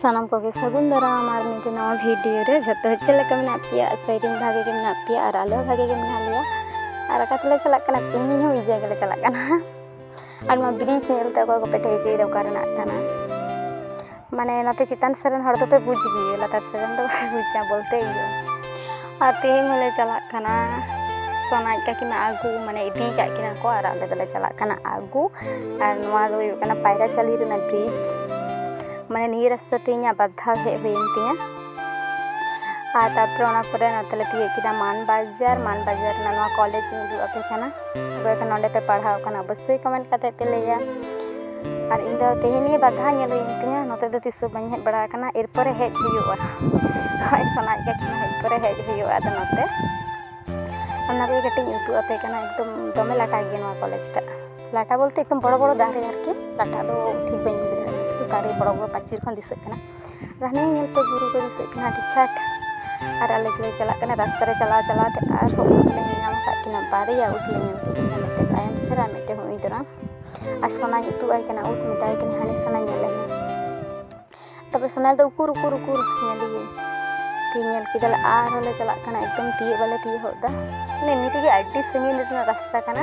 ᱥᱟᱱᱟᱢ ᱠᱚᱜᱮ ᱥᱟᱹᱜᱩᱱ ᱫᱟᱨᱟᱢ ᱟᱨ ᱢᱤᱫᱴᱮᱱ ᱱᱟᱣᱟ ᱵᱷᱤᱰᱤᱭᱳ ᱨᱮ ᱡᱷᱚᱛᱚ ᱪᱮᱫ ᱞᱮᱠᱟ ᱢᱮᱱᱟᱜ ᱯᱮᱭᱟ ᱥᱮᱨᱮᱧ ᱵᱷᱟᱜᱮ ᱜᱮ ᱢᱮᱱᱟᱜ ᱯᱮᱭᱟ ᱟᱨ ᱟᱞᱮ ᱦᱚᱸ ᱵᱷᱟᱜᱮ ᱜᱮ ᱢᱮᱱᱟᱜ ᱞᱮᱭᱟ ᱟᱨ ᱚᱠᱟ ᱛᱮᱞᱮ ᱪᱟᱞᱟᱜ ᱠᱟᱱᱟ ᱛᱮᱦᱮᱧ ᱦᱚᱸ ᱢᱤᱫ ᱡᱟᱭᱜᱟ ᱞᱮ ᱪᱟᱞᱟᱜ ᱠᱟᱱᱟ ᱟᱨ ᱱᱚᱣᱟ ᱵᱨᱤᱡᱽ ᱧᱮᱞ ᱛᱮ ᱚᱠᱚᱭ ᱠᱚᱯᱮ ᱴᱷᱟᱹᱣᱠᱟᱹᱭᱮᱫᱟ ᱚᱠᱟ ᱨᱮᱱᱟᱜ ᱠᱟᱱᱟ ᱢᱟᱱᱮ ᱱᱚᱛᱮ ᱪᱮᱛᱟᱱ ᱥᱮᱫ ᱨᱮᱱ ᱦᱚᱲ ᱫᱚᱯᱮ ᱵᱩᱡᱽ ᱜᱮᱭᱟ ᱞᱟᱛᱟᱨ ᱥᱮᱫ ᱨᱮᱱ ᱫᱚ ᱵᱟᱯᱮ ᱵᱩᱡᱟ ᱵᱚᱞᱛᱮ ᱤᱭᱟᱹ ᱟᱨ ᱛᱮᱦᱮᱧ ᱦᱚᱸᱞᱮ ᱪᱟᱞᱟᱜ ᱠᱟᱱᱟ ᱥᱚᱱᱟᱡ ᱠᱟᱹᱠᱤᱢᱟ ᱟᱹᱜᱩ ᱢᱟᱱᱮ ᱤᱫᱤ ᱠᱟᱜ ᱠᱤᱱᱟ ᱠᱚ ᱟᱨ ᱟᱞᱮ ᱫᱚᱞᱮ ᱪᱟᱞᱟᱜ ᱠᱟᱱᱟ ᱟᱹᱜᱩ ᱟᱨ ᱱᱚᱣᱟ ᱫᱚ ᱦᱩᱭᱩᱜ ᱠᱟᱱᱟ ᱯᱟᱭᱨᱟ ᱪᱟᱹᱞᱤ ᱨᱮᱱᱟᱜ ᱵᱨᱤᱡᱽ ᱢᱟᱱᱮ ᱱᱤᱭᱟᱹ ᱨᱟᱥᱛᱟ ᱛᱮ ᱤᱧᱟᱹᱜ ᱵᱟᱨ ᱫᱷᱟᱣ ᱦᱮᱡ ᱦᱩᱭᱮᱱ ᱛᱤᱧᱟᱹ ᱟᱨ ᱛᱟᱨᱯᱚᱨᱮ ᱚᱱᱟ ᱯᱚᱨᱮ ᱱᱚᱛᱮ ᱞᱮ ᱛᱤᱭᱳᱜ ᱠᱮᱫᱟ ᱢᱟᱱ ᱵᱟᱡᱟᱨ ᱢᱟᱱ ᱵᱟᱡᱟᱨ ᱨᱮᱱᱟᱜ ᱱᱚᱣᱟ ᱠᱚᱞᱮᱡᱽ ᱤᱧ ᱩᱫᱩᱜ ᱟᱯᱮ ᱠᱟᱱᱟ ᱚᱠᱚᱭ ᱠᱚ ᱱᱚᱰᱮ ᱯᱮ ᱯᱟᱲᱦᱟᱣ ᱠᱟᱱᱟ ᱚᱵᱚᱥᱥᱳᱭ ᱠᱚᱢᱮᱱᱴ ᱠᱟᱛᱮ ᱯᱮ ᱞᱟᱹᱭᱟ ᱟᱨ ᱤᱧ ᱫᱚ ᱛᱮᱦᱮᱧ ᱜᱮ ᱵᱟᱨ ᱫᱷᱟᱣ ᱧᱮᱞ ᱦᱩᱭᱮᱱ ᱛᱤᱧᱟᱹ ᱱᱚᱛᱮ ᱫᱚ ᱛᱤᱥ ᱦᱚᱸ ᱵᱟᱹᱧ ᱦᱮᱡ ᱵᱟᱲᱟ ᱟᱠᱟᱱᱟ ᱮᱨᱯᱚᱨᱮ ᱦᱮᱡ ᱦᱩᱭᱩᱜᱼᱟ ᱦᱳᱭ ᱥᱟᱱᱟᱭᱮᱫ ᱠᱟᱱ ᱠᱷᱟᱱ ᱦᱮᱡ ᱯᱚᱨᱮ ᱦᱮᱡ ᱦᱩᱭᱩᱜᱼᱟ ᱟᱫᱚ ᱱᱚᱛᱮ ᱚᱱᱟ ᱠᱚᱜᱮ ᱠᱟᱹᱴᱤᱡ ᱤᱧ ᱩᱫᱩᱜ ᱟᱯᱮ ᱠᱟᱱᱟ ᱮᱠᱫᱚᱢ ᱫᱚᱢᱮ ᱞᱟᱴᱟ ᱜᱮᱭᱟ ᱱᱚᱣᱟ ᱠᱚᱞᱮᱡᱽ ᱴᱟᱜ ᱞᱟᱴᱟ ᱵᱚᱞᱛᱮ ᱮᱠᱫᱚᱢ ᱵᱚᱲᱚ ᱵᱚᱲᱚ ᱫᱟᱨᱮ ᱟᱨᱠᱤ ᱞᱟᱴᱟ ᱫᱚ ᱴᱷᱤᱠ ᱵᱟᱹᱧ ᱞᱟᱹᱭ ᱫᱟᱲᱮᱭᱟᱜ ᱠᱟᱱᱟ ᱫᱟᱨᱮ ᱵᱚᱲᱚ ᱵᱚᱲᱚ ᱯᱟᱹᱪᱤᱨ ᱠᱷᱚᱱ ᱫᱤᱥᱟᱹᱜ ᱠᱟᱱᱟ ᱨᱟᱱᱤ ᱧᱮᱞ ᱛᱮ ᱵᱩᱨᱩ ᱠᱚ ᱫᱤᱥᱟᱹᱜ ᱠᱟᱱᱟ ᱟᱹᱰᱤ ᱪᱷᱟᱴ ᱟᱨ ᱟᱞᱮ ᱫᱚᱞᱮ ᱪᱟᱞᱟᱜ ᱠᱟᱱᱟ ᱨᱟᱥᱛᱟ ᱨᱮ ᱪᱟᱞᱟᱣ ᱪᱟᱞᱟᱣ ᱛᱮ ᱟᱨᱦᱚᱸ ᱩᱴ ᱞᱮ ᱧᱮᱞ ᱧᱟᱢ ᱠᱟᱜ ᱠᱤᱱᱟ ᱵᱟᱨᱭᱟ ᱩᱴ ᱞᱮ ᱧᱮᱞ ᱠᱮᱫ ᱠᱤᱱᱟ ᱢᱤᱫᱴᱮᱱ ᱛᱟᱭᱚᱢ ᱥᱮᱫ ᱟᱨ ᱢᱤᱫᱴᱮᱱ ᱦᱚᱸ ᱤᱫᱟᱹᱨᱟ ᱟᱨ ᱥᱚᱱᱟᱧ ᱩᱫᱩᱜ ᱟᱭ ᱠᱟᱱᱟ ᱩᱴ ᱢᱮᱛᱟᱭ ᱠᱟᱱᱟ ᱦᱟᱱᱮ ᱥᱚᱱᱟ ᱧᱮᱞ ᱞᱮ ᱢᱮ ᱛᱟᱨᱯᱚᱨᱮ ᱥᱚᱱᱟ ᱫᱚ ᱩᱠᱩᱨ ᱩᱠᱩᱨ ᱩᱠᱩᱨ ᱧᱮᱞᱮᱭᱟᱹᱧ ᱛᱤ ᱧᱮᱞ ᱠᱮᱫᱟᱞᱮ ᱟᱨᱦᱚᱸ ᱞᱮ ᱪᱟᱞᱟᱜ ᱠᱟᱱᱟ ᱮᱠᱫᱚᱢ ᱛᱤᱭᱳᱜ ᱵᱟᱞᱮ ᱛᱤᱭᱳᱜ ᱦᱚᱫ ᱮᱫᱟ ᱢᱟᱱᱮ ᱮᱢᱱᱤ ᱛᱮᱜᱮ ᱟᱹᱰᱤ ᱥᱟᱺᱜᱤᱧ ᱨᱮᱱᱟᱜ ᱨᱟᱥᱛᱟ ᱠᱟᱱᱟ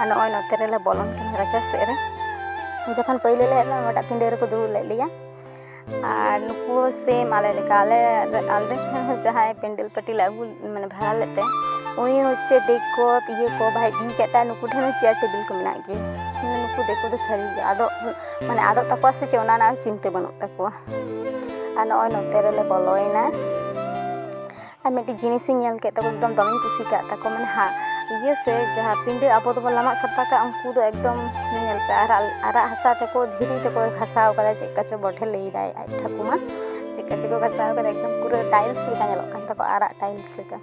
ᱟᱨ ᱱᱚᱜᱼᱚᱭ ᱱᱚᱛᱮ ᱨᱮᱞᱮ ᱵᱚᱞᱚᱱ ᱠᱟᱱᱟ ᱨᱟᱪᱟ ᱥᱮᱫ ᱨᱮ ᱡᱚᱠᱷᱚᱱ ᱯᱟᱹᱭᱞᱟᱹ ᱞᱮ ᱦᱮᱡ ᱞᱮᱱᱟ ᱱᱚᱣᱟᱴᱟᱜ ᱯᱤᱸᱰᱟᱹ ᱨᱮᱠᱚ ᱫᱩᱲᱩᱵ ᱞᱮᱫ ᱞᱮᱭᱟ ᱟᱨ ᱱᱩᱠᱩ ᱥᱮᱢ ᱟᱞᱮ ᱞᱮᱠᱟ ᱟᱞᱮ ᱟᱞᱮ ᱴᱷᱮᱱ ᱦᱚᱸ ᱡᱟᱦᱟᱸᱭ ᱯᱮᱱᱰᱮᱞ ᱯᱟᱹᱴᱤ ᱞᱮ ᱟᱹᱜᱩ ᱢᱟᱱᱮ ᱵᱷᱟᱲᱟ ᱞᱮᱫ ᱛᱮ ᱩᱱᱤ ᱦᱚᱪᱪᱷᱮ ᱰᱮᱠ ᱠᱚ ᱤᱭᱟᱹ ᱠᱚ ᱵᱟᱭ ᱤᱫᱤ ᱠᱟᱜ ᱛᱟᱭ ᱱᱩᱠᱩ ᱴᱷᱮᱱ ᱦᱚᱸ ᱪᱮᱭᱟᱨ ᱴᱮᱵᱤᱞ ᱠᱚ ᱢᱮᱱᱟᱜ ᱜᱮᱭᱟ ᱢᱟᱱᱮ ᱱᱩᱠᱩ ᱫᱤᱠᱩ ᱫᱚ ᱥᱟᱹᱨᱤ ᱜᱮ ᱟᱫᱚ ᱢᱟᱱᱮ ᱟᱫᱚᱜ ᱛᱟᱠᱚᱣᱟ ᱥᱮ ᱪᱮᱫ ᱚᱱᱟ ᱨᱮᱱᱟᱜ ᱪᱤᱱᱛᱟᱹ ᱵᱟᱹᱱᱩᱜ ᱛᱟᱠᱚᱣᱟ ᱟᱨ ᱱᱚᱜᱼᱚᱭ ᱱᱚᱛᱮ ᱨᱮᱞᱮ ᱵᱚᱞᱚᱭᱮᱱᱟ ᱟᱨ ᱢᱤᱫᱴᱤᱡ ᱡᱤᱱᱤᱥᱤᱧ ᱧᱮᱞ ᱠᱮᱫ ᱛᱟᱠᱚ ᱮᱠᱫᱚᱢ ᱫᱚᱢᱮᱧ ᱠᱩᱥᱤ ᱠᱟᱫ ᱛᱟᱠᱚ ᱢᱟᱱᱮ ᱦᱟᱸᱜ ᱤᱭᱟᱹ ᱥᱮ ᱡᱟᱦᱟᱸ ᱯᱤᱸᱰᱟᱹ ᱟᱵᱚ ᱫᱚᱵᱚᱱ ᱞᱟᱢᱟᱜ ᱥᱟᱯᱷᱟ ᱠᱟᱜᱼᱟ ᱩᱱᱠᱩ ᱫᱚ ᱮᱠᱫᱚᱢ ᱧᱮᱞ ᱯᱮ ᱟᱨᱟᱜ ᱟᱨᱟᱜ ᱦᱟᱥᱟ ᱛᱮᱠᱚ ᱫᱷᱤᱨᱤ ᱛᱮᱠᱚ ᱜᱷᱟᱥᱟᱣ ᱠᱟᱫᱟ ᱪᱮᱫ ᱠᱟᱪᱚ ᱵᱚᱴᱷᱮ ᱞᱟᱹᱭᱫᱟᱭ ᱟᱡ ᱴᱷᱟᱹᱠᱩᱢᱟ ᱪᱮᱫ ᱠᱟᱪᱚ ᱠᱚ ᱜᱷᱟᱥᱟᱣ ᱠᱟᱫᱟ ᱮᱠᱫᱚᱢ ᱯᱩᱨᱟᱹ ᱴᱟᱭᱤᱞᱥ ᱞᱮᱠᱟ ᱧᱮᱞᱚᱜ ᱠᱟᱱ ᱛᱟᱠᱚ ᱟᱨᱟᱜ ᱴᱟᱭᱤᱞᱥ ᱞᱮᱠᱟ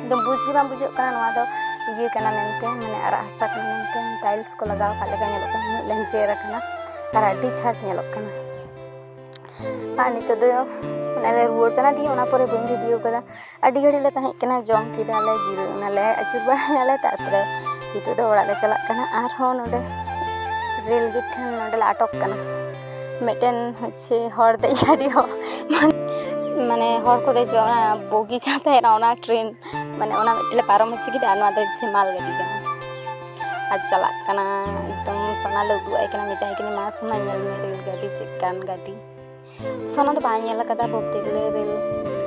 ᱮᱠᱫᱚᱢ ᱵᱩᱡᱽ ᱜᱮ ᱵᱟᱝ ᱵᱩᱡᱷᱟᱹᱜ ᱠᱟᱱᱟ ᱱᱚᱣᱟ ᱫᱚ ᱤᱭᱟᱹ ᱠᱟᱱᱟ ᱢᱮᱱᱛᱮ ᱢᱟᱱᱮ ᱟᱨᱟᱜ ᱦᱟᱥᱟ ᱠᱟᱱᱟ ᱢᱮᱱᱛᱮ ᱴᱟᱭᱤᱞᱥ ᱠᱚ ᱞᱟᱜᱟᱣ ᱠᱟᱜ ᱞᱮᱠᱟ ᱧᱮᱞᱚᱜ ᱠᱟᱱᱟ ᱩᱱᱟᱹᱜ ᱞᱮᱧᱡᱮᱨ ᱟᱠᱟᱱᱟ ᱟᱨ ᱟᱹᱰᱤ ᱪᱷᱟᱴ ᱧᱮᱞᱚᱜ ᱠᱟᱱᱟ ᱟᱨ ᱱᱤᱛᱚᱜ ᱫᱚ ᱚᱱᱟᱞᱮ ᱨᱩᱣᱟᱹᱲ ᱠᱟᱱᱟ ᱫᱤᱭᱮ ᱚᱱᱟ ᱯᱚᱨᱮ ᱵᱟᱹᱧ ᱵᱷᱤᱰᱤᱭᱳ ᱠᱟᱫᱟ ᱟᱹᱰᱤ ᱜᱷᱟᱹᱲᱤᱡ ᱞᱮ ᱛᱟᱦᱮᱸ ᱠᱟᱱᱟ ᱡᱚᱢ ᱠᱮᱫᱟᱞᱮ ᱡᱤᱨᱟᱹ ᱚᱱᱟᱞᱮ ᱟᱹᱪᱩᱨ ᱵᱟᱲᱟᱭᱟᱞᱮ ᱛᱟᱨᱯᱚᱨᱮ ᱱᱤᱛᱚᱜ ᱫᱚ ᱚᱲᱟᱜ ᱞᱮ ᱪᱟᱞᱟᱜ ᱠᱟᱱᱟ ᱟᱨᱦᱚᱸ ᱱᱚᱰᱮ ᱨᱮᱞ ᱜᱮᱴ ᱴᱷᱮᱱ ᱱᱚᱰᱮ ᱞᱮ ᱟᱴᱚᱠ ᱠᱟᱱᱟ ᱢᱤᱫᱴᱮᱱ ᱦᱚᱪᱪᱷᱮ ᱦᱚᱲ ᱫᱮᱡ ᱜᱟᱹᱰᱤ ᱦᱚᱸ ᱢᱟᱱᱮ ᱦᱚᱲ ᱠᱚ ᱫᱮᱡᱚᱜᱼᱟ ᱚᱱᱟ ᱵᱚᱜᱤ ᱡᱟᱦᱟᱸ ᱛᱟᱦᱮᱱᱟ ᱚᱱᱟ ᱴᱨᱮᱱ ᱢᱟᱱᱮ ᱚᱱᱟ ᱢᱤᱫᱴᱮᱱ ᱞᱮ ᱯᱟᱨᱚᱢ ᱦᱚᱪᱚ ᱠᱮᱫᱟ ᱟᱨ ᱱᱚᱣᱟ ᱫᱚ ᱦᱚᱪᱪᱷᱮ ᱢᱟᱞ ᱜᱟᱹᱰᱤ ᱠᱟᱱᱟ ᱟᱨ ᱪᱟᱞᱟᱜ ᱠᱟᱱᱟ ᱮᱠᱫᱚᱢ ᱥᱚᱱᱟ ᱞᱮ ᱩᱫᱩᱜ ᱟᱭ ᱠᱟᱱᱟ ᱢᱮᱛᱟᱭ ᱠᱟᱱᱟ ᱢᱟ ᱥᱚᱱᱟ ᱧᱮᱞ ᱢᱮ ᱨᱮᱞ ᱜᱟᱹᱰᱤ ᱪᱮᱫ ᱠᱟᱱ ᱜᱟᱹᱰᱤ ᱥᱚᱱᱟ ᱫᱚ ᱵᱟᱭ ᱧᱮᱞ ᱟᱠᱟᱫᱟ ᱵᱚᱞᱛᱮ ᱜᱮᱞᱮ ᱨᱮᱞ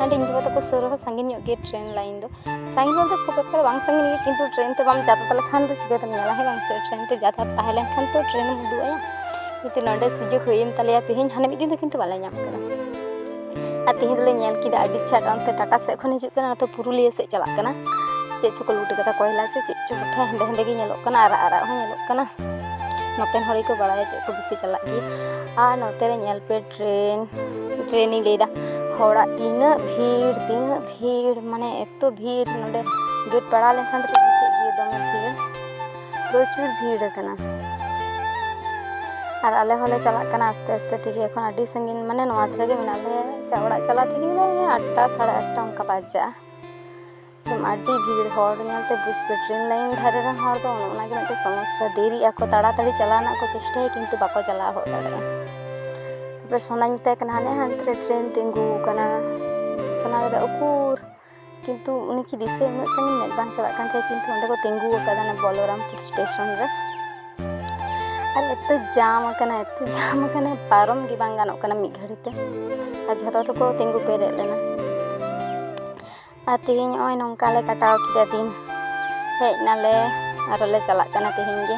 ᱟᱹᱰᱤ ᱤᱧ ᱵᱟᱵᱟ ᱛᱟᱠᱚ ᱥᱩᱨ ᱨᱮᱦᱚᱸ ᱥᱟᱺᱜᱤᱧ ᱧᱚᱜ ᱜᱮ ᱴᱨᱮᱱ ᱞᱟᱭᱤᱱ ᱫᱚ ᱥᱟᱺᱜᱤᱧ ᱵᱚᱞᱛᱮ ᱠᱷᱩᱵ ᱮᱠᱴᱟ ᱵᱟᱝ ᱥᱟᱺᱜᱤᱧ ᱜᱮ ᱠᱤᱱᱛᱩ ᱴᱨᱮᱱ ᱛᱮ ᱵᱟᱢ ᱡᱟᱛᱟᱛ ᱞᱮᱠᱷᱟᱱ ᱫᱚ ᱪᱤᱠᱟᱹᱛᱮᱢ ᱧᱮᱞᱟ ᱦᱮᱸ ᱵᱟᱝ ᱥᱮ ᱴᱨᱮᱱ ᱛᱮ ᱡᱟᱛᱟᱛ ᱛᱟᱦᱮᱸ ᱞᱮᱱᱠᱷᱟᱱ ᱛᱚ ᱴᱨᱮᱱ ᱮᱢ ᱩᱫᱩᱜ ᱟᱭᱟ ᱠᱤᱱᱛᱩ ᱱᱚᱰᱮ ᱥᱩᱡᱳᱜᱽ ᱦᱩᱭᱮᱱ ᱛᱟᱞᱮᱭᱟ ᱛᱮᱦᱮᱧ ᱦᱟᱱᱮ ᱢᱤᱫ ᱫᱤᱱ ᱫᱚ ᱠᱤᱱᱛᱩ ᱵᱟᱞᱮ ᱧᱟᱢ ᱠᱟᱫᱟ ᱟᱨ ᱛᱮᱦᱮᱧ ᱫᱚᱞᱮ ᱧᱮᱞ ᱠᱮᱫᱟ ᱟᱹᱰᱤ ᱪᱷᱟᱴ ᱚᱱᱛᱮ ᱴᱟᱴᱟ ᱥᱮᱫ ᱠᱷᱚᱱ ᱦᱤᱡᱩᱜ ᱠᱟᱱᱟ ᱱᱚᱛᱮ ᱯᱩᱨᱩᱞᱤᱭᱟᱹ ᱥᱮᱫ ᱪᱟᱞᱟᱜ ᱠᱟᱱᱟ ᱪᱮᱫ ᱪᱚᱠᱚ ᱞᱩᱴ ᱠᱟᱫᱟ ᱠᱚᱭᱞᱟ ᱪᱚ ᱪᱮᱫ ᱪᱚ ᱠᱚᱴᱷᱮ ᱦᱮᱸᱫᱮ ᱦᱮᱸᱫᱮ ᱜᱮ ᱧᱮᱞᱚᱜ ᱠᱟᱱᱟ ᱟᱨᱟᱜ ᱟᱨᱟᱜ ᱦᱚᱸ ᱧᱮᱞᱚᱜ ᱠᱟᱱᱟ ᱱᱚᱛᱮᱱ ᱦᱚᱲ ᱜᱮᱠᱚ ᱵᱟᱲᱟᱭᱟ ᱪᱮᱫ ᱠᱚ ᱵᱮᱥᱤ ᱪᱟᱞᱟᱜ ᱜᱮᱭᱟ ᱟᱨ ᱱᱚᱛᱮ ᱨᱮ ᱧᱮᱞ ᱯᱮ ᱴᱨᱮᱱ ᱴᱨᱮᱱ ᱤᱧ ᱞᱟᱹᱭᱫᱟ ᱦᱚᱲᱟᱜ ᱛᱤᱱᱟᱹᱜ ᱵᱷᱤᱲ ᱛᱤᱱᱟᱹᱜ ᱵᱷᱤᱲ ᱢᱟᱱᱮ ᱮᱛᱚ ᱵᱷᱤᱲ ᱱᱚᱰᱮ ᱜᱮᱴ ᱯᱟᱲᱟᱣ ᱞᱮᱱᱠᱷᱟᱱ ᱫᱚᱯᱮ ᱵᱩᱡᱮᱫ ᱜᱮᱭᱟ ᱫᱚᱢᱮ ᱵᱷᱤᱲ ᱯᱨᱚᱪᱩᱨ ᱵᱷᱤᱲ ᱟᱠᱟᱱᱟ ᱟᱨ ᱟᱞᱮ ᱦᱚᱸᱞᱮ ᱪᱟᱞᱟᱜ ᱠᱟᱱᱟ ᱟᱥᱛᱮ ᱟᱥᱛᱮ ᱛᱮᱜᱮ ᱮᱠᱷᱚᱱ ᱟᱹᱰᱤ ᱥᱟᱺᱜᱤᱧ ᱢᱟᱱᱮ ᱱᱚᱣᱟ ᱫᱷᱟᱨᱮ ᱜᱮ ᱢᱮᱱᱟᱜ ᱞᱮᱭᱟ ᱪᱟ ᱚᱲᱟᱜ ᱪᱟᱞᱟᱜ ᱛᱮᱜᱮ ᱞᱮ ᱟᱴᱴᱟ ᱥᱟᱲᱮ ᱟᱴᱴᱟ ᱚᱱᱠᱟ ᱵᱟᱡᱟᱜᱼᱟ ᱮᱠᱫᱚᱢ ᱟᱹᱰᱤ ᱵᱷᱤᱲ ᱦᱚᱲ ᱧᱮᱞᱛᱮ ᱵᱩᱡᱽ ᱯᱮ ᱴᱨᱮᱱ ᱞᱟᱭᱤᱱ ᱫᱷᱟᱨᱮ ᱨᱮᱱ ᱦᱚᱲ ᱫᱚ ᱚᱱᱮ ᱚᱱᱟᱜᱮ ᱢᱤᱫᱴᱮᱱ ᱥᱚᱢᱚᱥᱥᱟ ᱫᱮᱨᱤᱜ ᱟᱠᱚ ᱛᱟᱲᱟᱛᱟᱲᱤ ᱪᱟᱞᱟᱣ ᱨᱮᱱᱟᱜ ᱠᱚ ᱪᱮᱥᱴᱟᱭᱟ ᱠᱤᱱᱛᱩ ᱵᱟᱠᱚ ᱪᱟᱞᱟᱣ ᱦᱚᱫ ᱫᱟᱲᱮᱭᱟᱜᱼᱟ ᱛᱟᱨᱯᱚᱨᱮ ᱥᱚᱱᱟᱧ ᱢᱮᱛᱟᱭ ᱠᱟᱱᱟ ᱦᱟᱱᱮ ᱦᱟᱱᱛᱮ ᱨᱮ ᱴᱨᱮᱱ ᱛᱤᱸᱜᱩ ᱟᱠᱟᱱᱟ ᱥᱚᱱᱟ ᱞᱟᱹᱭᱫᱟ ᱩᱠᱩᱨ ᱠᱤᱱᱛᱩ ᱩᱱᱤ ᱠᱤ ᱫᱤᱥᱟᱹ ᱩᱱᱟᱹᱜ ᱥᱟᱺᱜᱤᱧ ᱢᱮᱫ ᱵᱟᱝ ᱪᱟᱞᱟᱜ ᱠᱟᱱ ᱛᱟᱭᱟ ᱠᱤᱱᱛᱩ ᱚᱸᱰᱮ ᱠᱚ ᱛᱤᱸᱜᱩ ᱟᱠᱟᱫᱟ ᱚᱱᱟ ᱵᱚᱞᱚᱨᱟᱢᱯᱩᱨ ᱥᱴᱮᱥᱚᱱ ᱨᱮ ᱟᱨ ᱮᱛᱚ ᱡᱟᱢ ᱟᱠᱟᱱᱟ ᱮᱛᱚ ᱡᱟᱢ ᱟᱠᱟᱱᱟ ᱯᱟᱨᱚᱢ ᱜᱮ ᱵᱟᱝ ᱜᱟᱱᱚᱜ ᱠᱟᱱᱟ ᱢᱤᱫ ᱜᱷᱟᱹᱲᱤ ᱛᱮ ᱟᱨ ᱡᱷᱚᱛᱚ ᱫᱚᱠᱚ ᱛᱤᱸᱜᱩ ᱯᱮᱨᱮᱡ ᱞᱮᱱᱟ ᱟᱨ ᱛᱮᱦᱮᱧ ᱱᱚᱜᱼᱚᱭ ᱱᱚᱝᱠᱟ ᱞᱮ ᱠᱟᱴᱟᱣ ᱠᱮᱫᱟ ᱫᱤᱱ ᱦᱮᱡ ᱱᱟᱞᱮ ᱟᱨᱚᱞᱮ ᱪᱟᱞᱟᱜ ᱠᱟᱱᱟ ᱛᱮᱦᱮᱧ ᱜᱮ